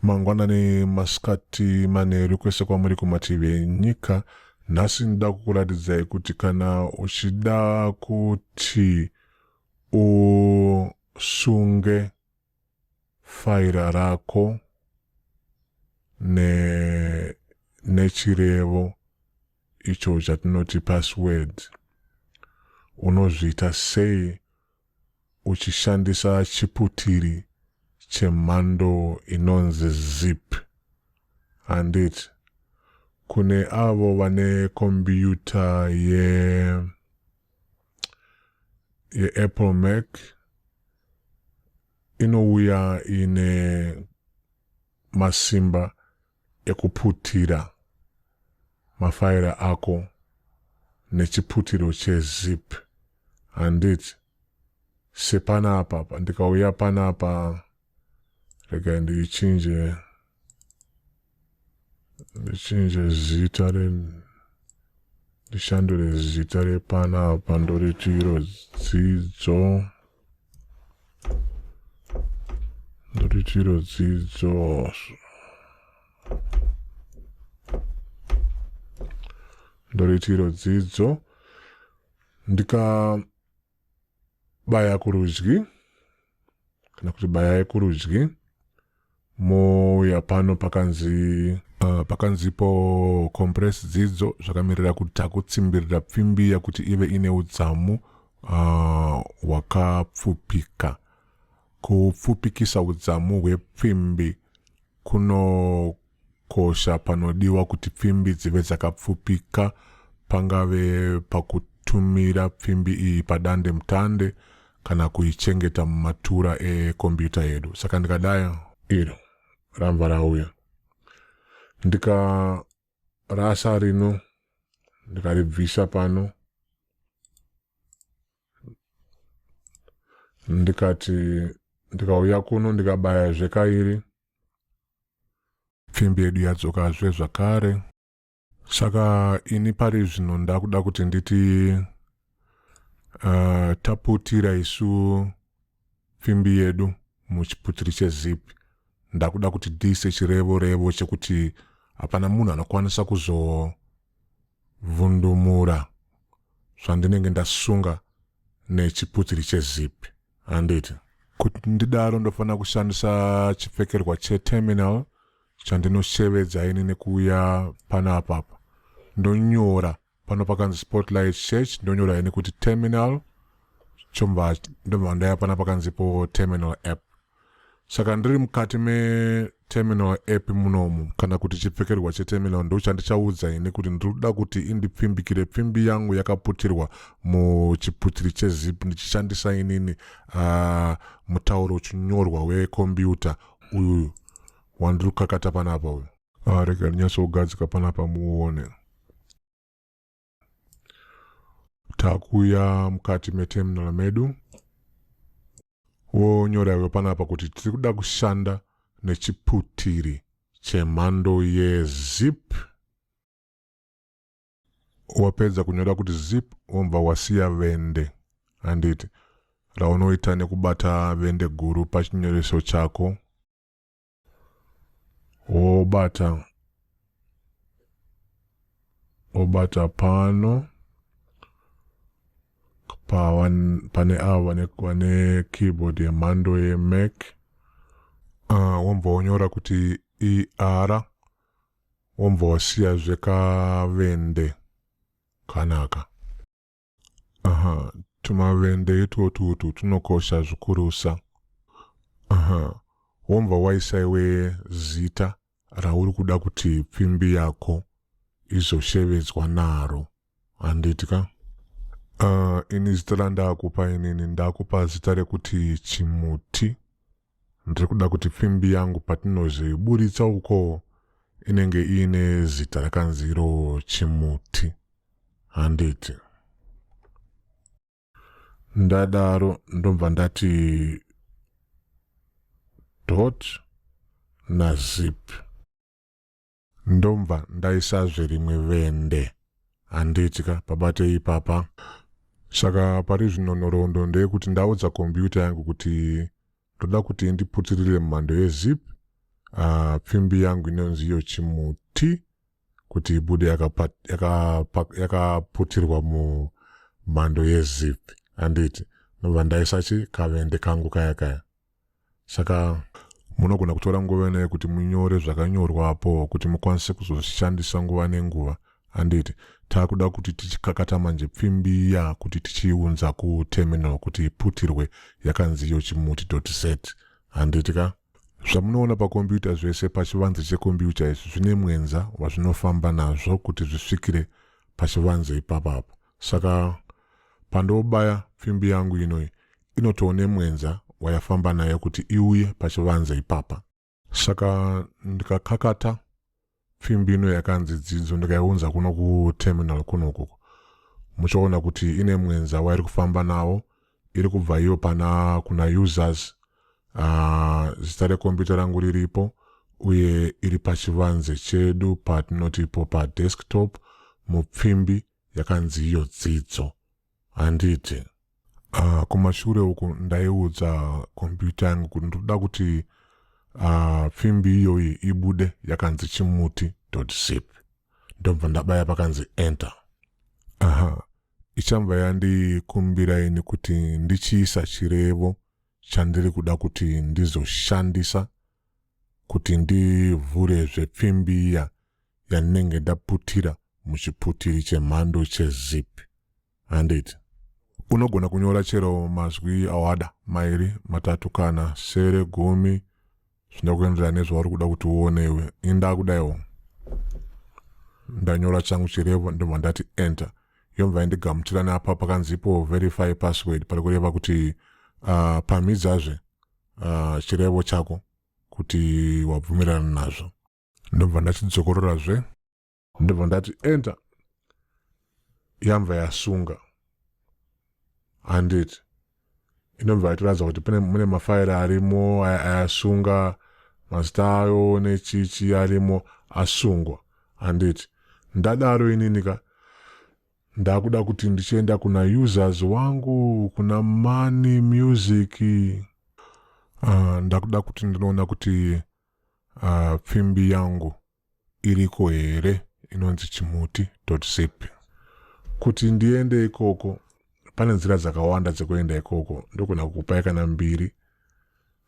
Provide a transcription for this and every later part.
mangwanani masikati manheru kwese kwamuri kumativi enyika nhasi ndida kukuratidzai kuti kana uchida kuti usunge faira rako ne nechirevo icho chatinoti password unozviita sei uchishandisa chiputiri chemhando inonzi zip handiti kune avo vane kombiyuta ye yeapple mac inouya ine masimba ekuputira mafaira ako nechiputiro chezip handiti sepanapa ndikauya panapa rega ndichinje ndichinje zita re ndishandure zita repana apa ndoriti iro dzidzo ndoriti iro dzidzo ndoriti iro dzidzo ndika baya kurudyi kana kuti bayai kurudyi mouya pano pakanzi Uh, pakanzipo compress dzidzo zvakamirira kuti takutsimbirira pfimbiya kuti ive ine udzamu uh, hwakapfupika uh, kupfupikisa udzamu hwepfimbi kuno Kukosha panodiwa kuti pfimbi dzive dzakapfupika pangave pakutumira pfimbi iyi padande mutande kana kuichengeta mumatura ekombiyuta yedu. Saka ndikadai iro rambva rauya ndikarasa rino ndikaribvisa pano ndikati ndikauya kuno ndikabaya zvekairi Pfimbi yedu yadzokazve zvakare. Saka ini pari zvino ndakuda kuti nditi uh, taputira isu pfimbi yedu muchiputiri chezipi ndakuda kuti dise chirevo revo chekuti hapana munhu anokwanisa kuzovhundumura zvandinenge ndasunga nechiputiri chezipi Handiti? Kuti ndidaro ndofanira kushandisa chipfekerwa cheterminal chandinoshevedza ini nekuuya pana apapa. Ndonyora pano pakanzi Spotlight Church ndonyora ini kuti terminal chomva ndobva ndaya pana pakanzipo terminal app. Saka ndiri mukati meterminal epi munomu kana kuti chipfekerwa cheterminal ndochandichaudza ini kuti ndiri kuda kuti indipfimbikire pfimbi yangu yakaputirwa muchiputiri chezip ndichishandisa inini uh, mutauro uchinyorwa wekombiyuta uyuyu wandiri kukakata panapa uyu ah, rega ndinyatsogadzika panapa muone takuya mukati meterminal medu wonyora iwe panapa kuti tiri kuda kushanda nechiputiri chemhando yezip wapedza kunyora kuti zip wobva wasiya vende handiti raunoita nekubata vende guru pachinyoreso chako wobata wobata pano pane avo vane keyboard yemhando yemac uh, ah, wombva wonyora kuti er wombva wasiya zvekavende kanaka Aha, tumavende itwotwo utwu twunokosha zvikurusa. Aha, wombva waisa iwe zita rauri kuda kuti pfimbi yako izoshevedzwa naro, handiti ka? Ah, ini zita randakupa inini ndakupa zita rekuti Chimuti. Ndiri kuda kuti pfimbi yangu patinozviburitsa uko inenge iine zita rakanzi iro chimuti handiti ndadaro ndobva ndati dot nazip Ndombva ndaisazve rimwe vende. Handiti ka pabate ipapa. Saka pari zvino nhoroondo ndeyekuti ndaudza computer yangu kuti ndoda kuti indiputirire mumhando yezip uh, pfimbi yangu inonzi iyo chimuti kuti ibude yakaputirwa yaka, yaka mumhando yezip handiti ndobva ndaisachi kavende kangu kaya kaya saka munogona kutora nguva inei kuti munyore zvakanyorwa apo kuti mukwanise kuzozvishandisa nguva nenguva handiti taakuda kuti tichikakata manje pfimbi ya kuti tichiiunza kuterminal kuti iputirwe yakanzi iyo chimuti dot set handiti ka zvamunoona pakombiyuta zvese pachivanze chekombiyuta izvi zvine mwenza wazvinofamba nazvo kuti zvisvikire pachivanze ipapapo Saka pandobaya pfimbi yangu ino inotowo nemwenza wayafamba nayo kuti iuye pachivanze ipapa. Saka ndikakakata pfimbi ino yakanzi dzidzo ndikaiunza kuno kuterminal kuno ukoko muchaona kuti ine mwenza wairi kufamba nawo iri kubva iyo pana kuna users ah, zita rekombiyuta rangu riripo uye iri pachivanze chedu patinoti ipo padesktop mupfimbi yakanzi iyo dzidzo handiti uh, kumashure uku ndaiudza kompyuta yangu kuti ndinoda kuti uh, pfimbi iyoyi ibude yakanzi chimuti zip ndobva ndabaya pakanzi enter aha ichanva yandikumbira ini kuti ndichiisa chirevo chandiri kuda kuti ndizoshandisa kuti ndivhure zvepfimbi iya yandinenge ndaputira muchiputiri chemhando chezip. Handiti? Unogona kunyora chero mazwi awada, mairi, matatu kana sere, gumi, zvinoda kuenderana nezvauri kuda kuti uone iwe. Ini ndakudaiwo. Ndanyora changu chirevo ndobva ndati enter. Yobva yandigamuchira neapa pakanzi ipo verify password pari kureva kuti uh, pamhidzazve uh, chirevo chako kuti wabvumirana nazvo. ndobva ndachidzokorerazve ndobva ndati enter yamva yasunga handiti inobva yatiratidza kuti pane mune mafairi arimo ayasunga mazita ayo nechichi arimo asungwa handiti ndadaro inini ka ndakuda kuti ndichienda kuna users wangu kuna money music uh, ndakuda kuti ndinoona kuti uh, pfimbi yangu iriko here inonzi chimuti zip kuti ndiende ikoko pane nzira dzakawanda dzekuenda ikoko ndogona kukupai kana mbiri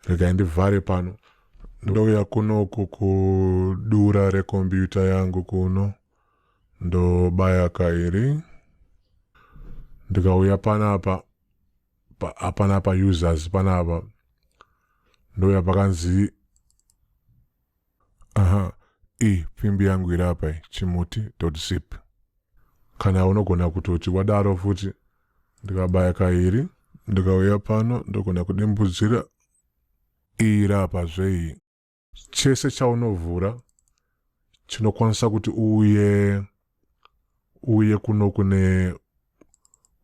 regai ndivhare pano ndouya kunoku kudura rekombiyuta yangu kuno ndobaya kairi ndikauya panapa hapana pa users panapa ndoya pakanzi aha i pfimbi yangu iri apa chimuti zip kana unogona kutoti wadaro futi ndikabaya kairi ndikauya pano ndogona kudimbudzira iri apa zvei Chese chaunovhura chinokwanisa kuti uye uye kuno kune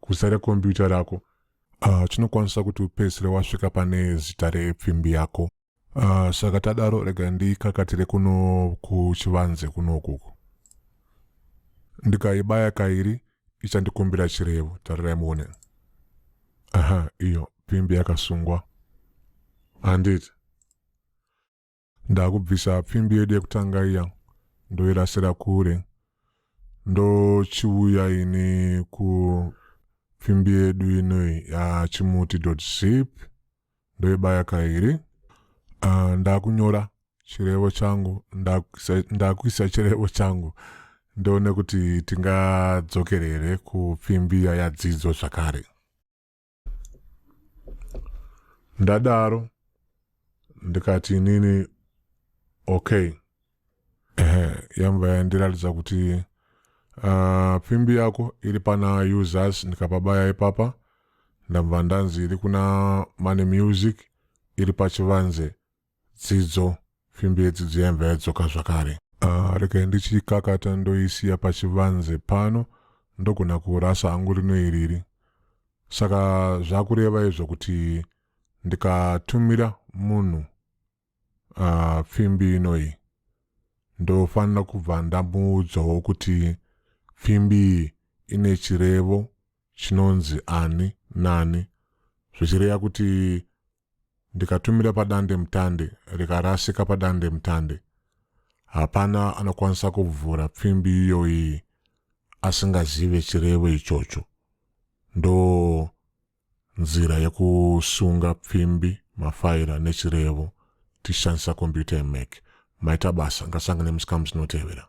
kuzare kompyuta rako uh, chinokwanisa kuti upedzisire wasvika pane zita repfimbi yako uh, saka tadaro rega ndikakatire kuno kuchivanze kuno ukuku ndikaibaya kairi ichandikumbira chirevo tarirai muone aha iyo pfimbi yakasungwa handiti ndakubvisa pfimbi yedu yekutanga iya ndoirasira kure ndochiuya ini kupfimbi yedu inoi yachimuti zip ndoibaya kairi uh, ndakunyora chirevo changu ndakuisa chirevo changu ndoone kuti tingadzokere here kupfimbi yadzidzo zvakare ndadaro ndikati inini okay ehe yamba yandiratidza kuti uh, pfimbi yako iri pana users ndikapabaya ipapa ndabva ndanzi iri kuna mane music iri pachivanze Dzidzo, fimbi yedzidzo yaimva yadzoka zvakare. Ah, regai ndichiikakata ndoisiya pachivanze pano ndogona kurasa hangu rino iriri. Saka zvakureva izvo kuti ndikatumira munhu ah, fimbi inoyi ndofanira kubva ndamuudzawo kuti fimbi iyi ine chirevo chinonzi ani nani zvichireva kuti ndikatumira padandemutande rikarasika padandemutande. Hapana anokwanisa kuvhura pfimbi iyoyi asingazive chirevo ichocho. Ndo nzira yekusunga pfimbi, mafaira nechirevo tichishandisa kombiyuta yeMac. Maita basa, ngasangane musi kamusi inotevera.